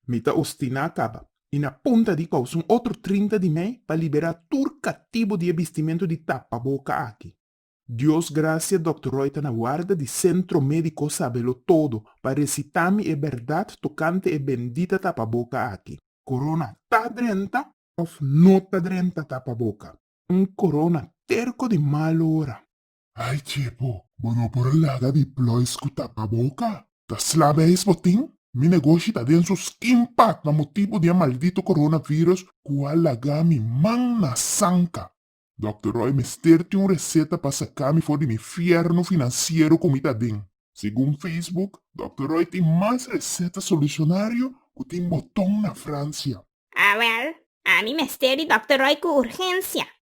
Mi ta ostiná kaba, i na punta di kous un otro trinta di mei, pa liberá tur katibu di e bistimentu di tapaboka aki. Dios grasia Dòkter Roy ta na warda di Sentro Médiko Sabelo Todo pa resitá mi e bèrdat tokante e bendita tapaboka aki. Korona ta drenta òf no ta drenta tapaboka? Un korona terko di mal ora. Ay chepo! Bo no por laga di ploys ku tapa boka. Ta sla beis bo tin? Mi negoshi ta den su skin pat na motibu di e maldito coronavirus ku a laga mi man na sanka. Dòkter Roy mester tin un reseta pa saka mi for di mi fierno finansiero ku mi ta den. Segun Facebook, Dòkter Roy tin mas reseta solusionario ku tin boton na Fransia. Awèl, ami mester di Dòkter Roy ku urgensia.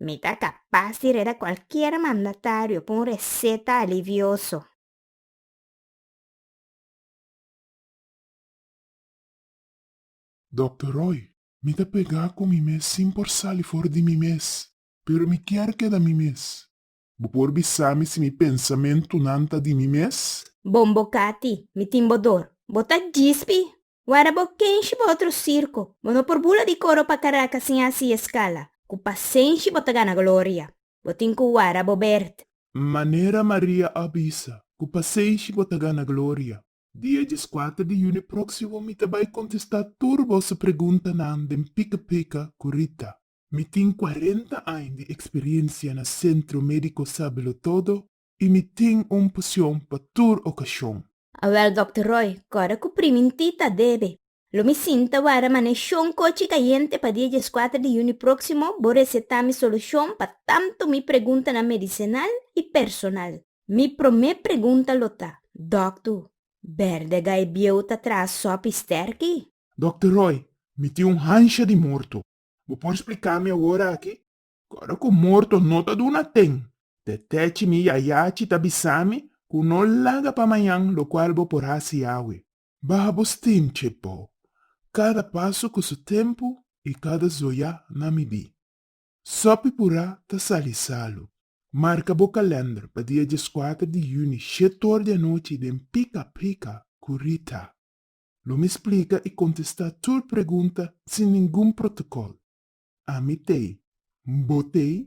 Mi ta kapas di reda kualkier mandatario ku un reseta alivioso. Dòkter Roy, Mi ta pegá ku mi mes sin por sali for di mi mes. Pero mi kier keda mi mes. Bo por bisa mi si mi pensamentunan ta di mi mes? Bombo Kati, Mi tin bo dor. Bo ta djis pi Wara bo kenshi bo otro sirko, bo no por bula di koro pa Karakas sin hasi eskala. Ku pasenshi bo ta gana gloria. Bo tin ku wara bo berd. Manera Maria a bisa, ku pasenshi bo ta gana gloria. Dia dieskuater di yuni proksimo mi ta bai kontestá tur boso preguntanan den Pika Pika ku Rita. Mi tin kuarenta ain di eksperiensia na Sentro Médiko Sábelo Todo y mi tin un pasion pa tur ocasion. Awel Dòkter Roy, kòrda ku primin ti ta debe, lo mi sinta wara man'e shon kochi kayente pa dia dieskuater di yuni próksimo bo resetá mi solushon pa tantu mi preguntanan medisinal i personal. Mi promé pregunta lo ta, Dòktu, bèrdega e bieu ta traha sòpi stèrki? Dòkter Roy, mi tin un hansha di morto. Bo por spliká mi awor aki? Kòrda ku morto no ta duna ten, tètèchi mi yayachi ta bisa mi ku no laga pa mañan lokual bo por hasi awe. Baha bo stinchi po, kada pasu ku su tempu i kada zoya na midí. Sopi purá ta sali salu. Marka bo kalènder pa dia dieskuater di yuni shet or di anochi den Pika Pika ku Rita. Lo mi splica y contesta tur pregunta sin ningun protocol. Ami t'ey. N'bo t'ey?